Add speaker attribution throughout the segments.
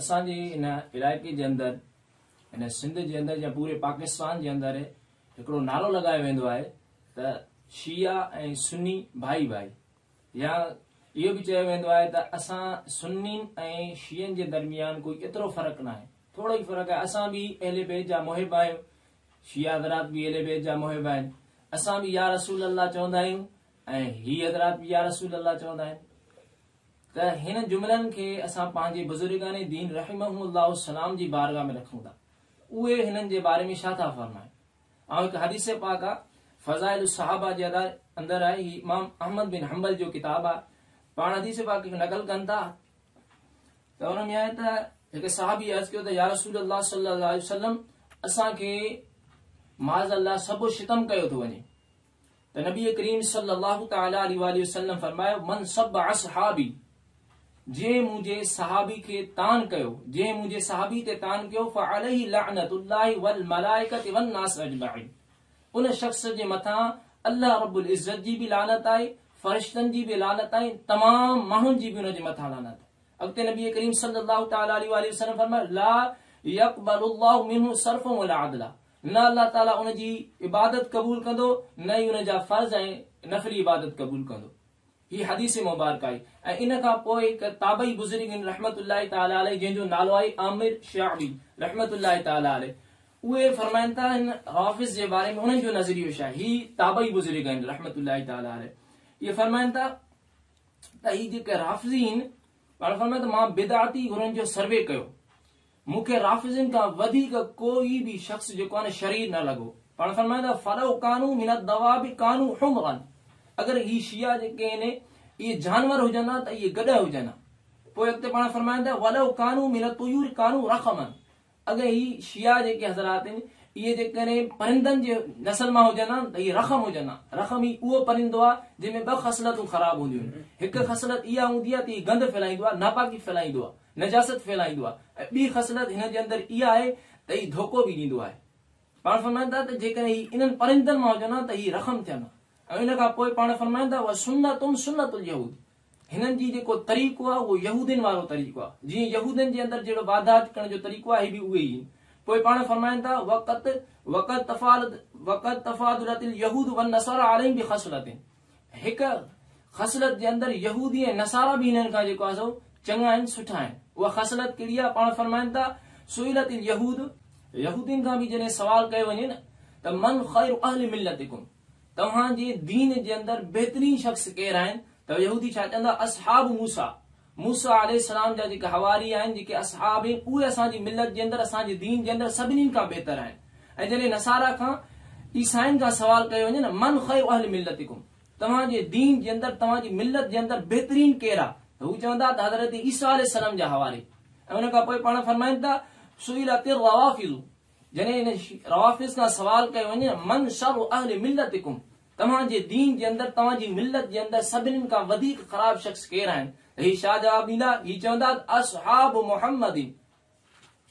Speaker 1: اسان جي ان علائقي جي اندر ان سنڌ جي اندر يا پوري پاڪستان جي اندر هڪڙو نعرو لڳايو ويندو آهي ته شيعا ۽ سني ڀائي ڀائي يا اهو به چيو ويندو آهي ته اسان سنين ۽ شيعن جي درميان ڪوئي ايترو فرق ناهي ٿورو ئي فرق آهي اسان به اهل بيت جا محب آهيون شيعا حضرات به اهل بيت جا محب آهن اسان به يا رسول الله چوندا آهيون ۽ هي حضرات به يا رسول الله چوندا آهن ته هن جملن کي اسان پنهنجي بزرگان دين رحمهم الله السلام جي بارگاهه ۾ رکون ٿا اهي هنن جي باري ۾ ڇا ٿا فرمائن ۽ هڪ حديث پاڪ آ فضائل الصحابه جي اندر آهي هي امام احمد بن حنبل جو ڪتاب آ پاڻ حديث پاڪ کي نقل ڪن ٿا ته ان ۾ آهي ته هڪ صحابي عرض ڪيو ته يا رسول الله صلي الله عليه وسلم اسان کي معاذ الله سڀو ستم ڪيو ٿو وڃي ته نبي ڪريم صلي الله تعالٰي عليه واٰله وسلم فرمايو، من سب اصحابي، جنهن منهنجي صحابي کي طعن ڪيو، جنهن منهنجي صحابي تي طعن ڪيو، فعليه لعنت الله والملائڪة والناس اجمعين، ان شخص جي مٿان الله رب العزت جي به لعنت آهي، فرشتن جي به لعنت آهي، تمام ماڻهن جي به ان جي مٿان لعنت آهي. اڳتي نبي ڪريم صلي الله تعالٰي عليه واٰله وسلم فرمايو، لا يقبل الله منه صرفا ولا عدلا، نه الله تعالي ان جي عبادت قبول ڪندو نه ئي ان جا فرض ۽ نفلي عبادت قبول ڪندو. هي حديث مبارڪه آهي ۽ ان کان پوء هڪ تابعي بزرگين رحمة الله تعالي عليه جنهن جو نالو آهي عامر شعبي رحمة الله تعالي عليه اهي فرمائن ٿا هن رافض جي باري ۾ انهن جو نظريو ڇا هي تابعي بزرگ آهن رحمة الله تعالي عليه اهي فرمائن ٿا ته هي جيڪي رافضي آهن پاڻ فرمائن ته مان بدعتي گرن جو سروي ڪيو مون کي رافضين کان وڌيڪ ڪو ئي به شخص جيڪو آهن شرير نه لڳو. پاڻ فرمائن ٿا، فلو ڪانو من الدواب ڪانو حمرا اگر اهي شيعا جيڪي آهن اهي جانور هجن ها ته اهي گڏهه هجن ها. پوء اڳتي پاڻ فرمائن ٿا، ولو ڪانو من الطيور ڪانو رخما اگر اهي شيعا جيڪي حضرات آهن اهي جيڪڏهن پرندن جي نسل مان هجن ها ته اهي رخم هجن ها. رخم هي اهو پرندو آهي جنهن ۾ ٻه خصلتون خراب هونديون آهن. هڪ خصلت اها هوندي آهي ته هي گند ڦهلائيندو آهي، ناپاڪي ڦهلائيندو آهي. نجاست ڦهلائيندو آهي ۽ ٻي خصلت هن جي اندر اها آهي ته هي ڌوڪو به ڏيندو آهي. پاڻ فرمائن ٿا ته جيڪڏهن هي انهن پرندن مان هجن ها ته هي رخم ٿين ها ۽ ان کان پوء پاڻ فرمائن ٿا وسنتهم سنت اليهود هنن جي جيڪو طريقو آهي اهو يهودين وارو طريقو آهي جيئن يهودين جي اندر جهڙو واردات ڪرڻ جو طريقو آهي هي به اهي ئي آهن پوء پاڻ فرمائن ٿا وقت وقد تفاضلت اليهود والنصارا عليهم بخصلتين هڪ خصلت جي اندر يهودي ۽ نصارا به هنن کان جيڪو آهي سو چڱا آهن، سٺا آهن. اها خصلت ڪهڙي آهي؟ پاڻ فرمائن ٿا، سئلت اليهود، يهودين کان به جڏهن سوال ڪيو وڃي نه ته من خير اهل ملتڪم، توهان جي دين جي اندر بهترين شخص ڪير آهن؟ ته يهودي ڇا چوندا، اصحاب موسيٰ، موسيٰ عليه السلام جا جيڪي حواري آهن، جيڪي اصحاب آهن، اهي اسان جي ملت جي اندر، اسان جي دين جي اندر سڀني کان بهتر آهن ۽ جڏهن نصاريٰ کان، عيسائين کان سوال ڪيو وڃي نه، من خير اهل ملتڪم، توهان جي دين جي اندر، توهان جي ملت جي اندر بهترين ڪير آ؟ ته هو چوندا ته حضرت عيسيٰ عليه السلام جا حواري ۽ ان کان پوء پاڻ فرمائن ٿا، سئلت الروافض، جڏهن روافض کان سوال ڪيو وڃي نه، من شر اهل ملتڪم، توهان جي دين جي اندر، توهان جي ملت جي اندر سڀنين کان وڌيڪ خراب شخص ڪير آهن؟ ته هي شاهه جواب ڏيندا، هي چوندا ته اصحاب محمد،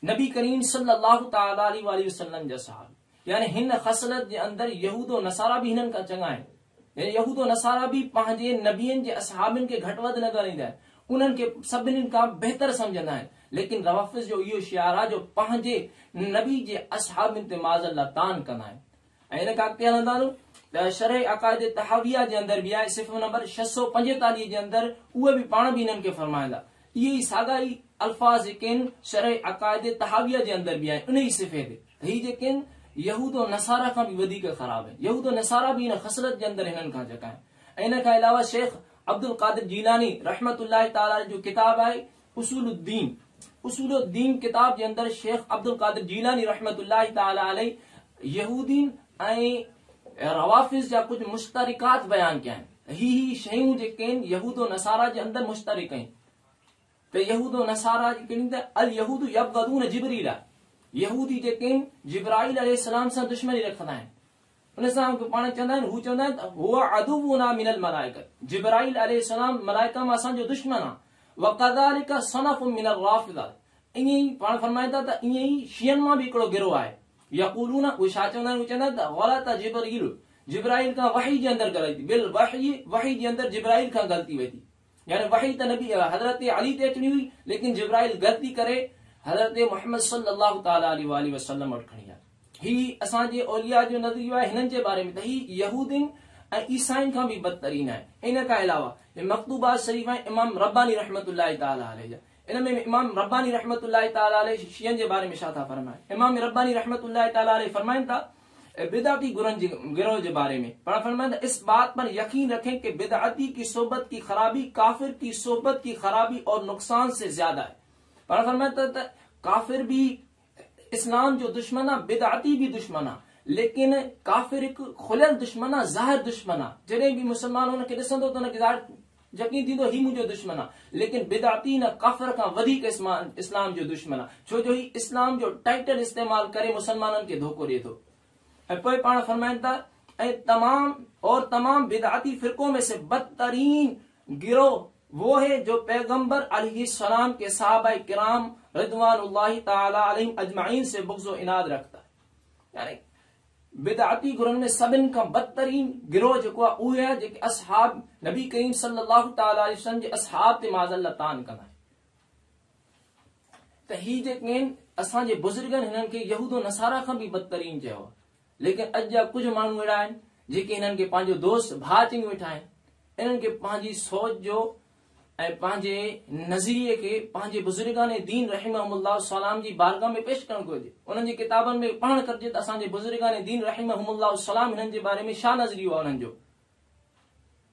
Speaker 1: نبي ڪريم صلّي اللّٰه تعالٰي عليه واٰله وسلّم جا صحابي. يعني هن خصلت جي اندر يهود و نصارا به هنن کان چڱا آهن. يعني يهود و نصارا به پنهنجي نبين جي اصحابن کي گهٽ وڌ نه ڳڻيندا آهن. انهن کي سڀنين کان بهتر سمجهندا آهن. ليڪن روافض جو اهو شعار آهي جو پنهنجي نبي جي اصحابن تي معاذ الله طعن ڪندا آهن. ۽ ان کان اڳتي هلندارون ته شرح عقائد طحاويه جي اندر به آهي صفحو نمبر ڇهه سؤ پنجيتاليهه جي اندر اهي به پاڻ به انهن کي فرمائيندا اهي ئي ساڳا ئي الفاظ جيڪين شرح عقائد طحاويه جي اندر به آهن ان ئي صفحي تي ته هي جيڪين يهود و نصارا کان به وڌيڪ خراب آهن يهود و نصارا به ان خصلت جي اندر هنن کان جڪا آهن ۽ ان کان علاوه شيخ عبدالقادر جيلاني رحمة الله تعالٰي عليه جو ڪتاب آهي اصول الدين، اصول الدين ڪتاب جي اندر شيخ عبدالقادر جيلاني رحمة الله تعالٰي عليه يهودين ۽ روافض جا ڪجهه مشترڪات بيان ڪيا آهن. هي هي شيون جيڪين يهود و نصارا جي اندر مشترڪ آهن ته يهود و نصارا جي ڪن ته اليهود يبغضون جبريلا يهودي جيڪين جبرائيل عليه السلام سان دشمني رکندا آهن. ان سان اهي پاڻ چوندا آهن، هو چوندا آهن ته هو عدونا من الملائڪة، جبرائيل عليه السلام ملائڪه مان اسان جو دشمن آهي، وڪذلک صنف من الرافضة، ائين ئي پاڻ فرمائن ٿا ته ائين ئي شيعن مان به هڪڙو گروهه آهي، يقولون، اهي ڇا چوندا آهن، اهي چوندا آهن ته غلط جبريل، جبرائيل کان وحي جي اندر غلطي، بالوحي، وحي جي اندر جبرائيل کان غلطي وئي ٿي. يعني وحي ته نبي حضرت علي تي اچڻي هئي ليڪن جبرائيل غلطي ڪري حضرت محمد صلّي الله تعالٰي عليه واٰله وسلّم وٽ کڻي آيو. هي اسان جي اولياء جو نظريو آهي هنن جي باري ۾ ته هي يهودين ۽ عيسائين کان به بدترين آهن. ان کان علاوه هي مڪتوبات شريف ۽ امام رباني رحمة الله تعالٰي عليه جا ان ۾ امام رباني رحمة الله تعالٰي عليه شيعن جي باري ۾ ڇا ٿا فرمائن؟ امام رباني رحمة الله تعالٰي عليه فرمائن ٿا، بدعتي گرن جي گروهه جي باري ۾، پڻ فرمائن ٿا، اس بات پر يقين رکين ڪي بدعتي ڪي صحبت ڪي خرابي ڪافر ڪي صحبت ڪي خرابي اور نقصان سي زياده هي. پڻ فرمائن ٿا ته ڪافر به اسلام جو دشمن آ بدعتي به دشمن آ ليڪن ڪافر هڪ کليل دشمن آ ظاهر دشمن آ جڏهن به مسلمان هن کي ڏسندو ته هن کي ظاهر يقين ٿيندو هي منهنجو دشمن آ ليڪن بدعتي نه ڪافر کان وڌيڪ اسلام جو دشمن آ ڇو جو هي اسلام جو ٽائيٽل استعمال ڪري مسلمانن کي ڌوڪو ڏي ٿو ۽ پوء پاڻ فرمائن ٿا ۽ تمام اور تمام بدعتي فرقون ۾ سي بدترين گروه وو هي جو پيغمبر عليه السلام ڪي صحابه ڪرام رضوان الله تعالٰي عليهم اجمعين سي بغض و عناد رکتا هي يعني بدعتي گروهن ۾ سڀن کان بدترين گروه جيڪو آهي اهي آهي جيڪي اصحاب نبي ڪريم صلي الله تعالٰي عليه وسلم جي اصحاب تي معاذ الله طعن ڪندا آهن ته هي جيڪين اسان جي بزرگن هنن کي يهود و نصارا کان به بدترين چيو ليڪن اڄ جا ڪجهه ماڻهو اهڙا آهن جيڪي هنن کي پنهنجو دوست ڀاء چنگي ويٺا آهن انهن کي پنهنجي سوچ جو ۽ پنهنجي نظريي کي پنهنجي بزرگان دين رحمهم الله السلام جي بارگاھ ۾ پيش ڪرڻ گهرجي انهن جي ڪتابن ۾ پڙهڻ گهرجي ته اسان جي بزرگان دين رحمهم الله السلام هنن جي باري ۾ شا نظريو آهي انهن جو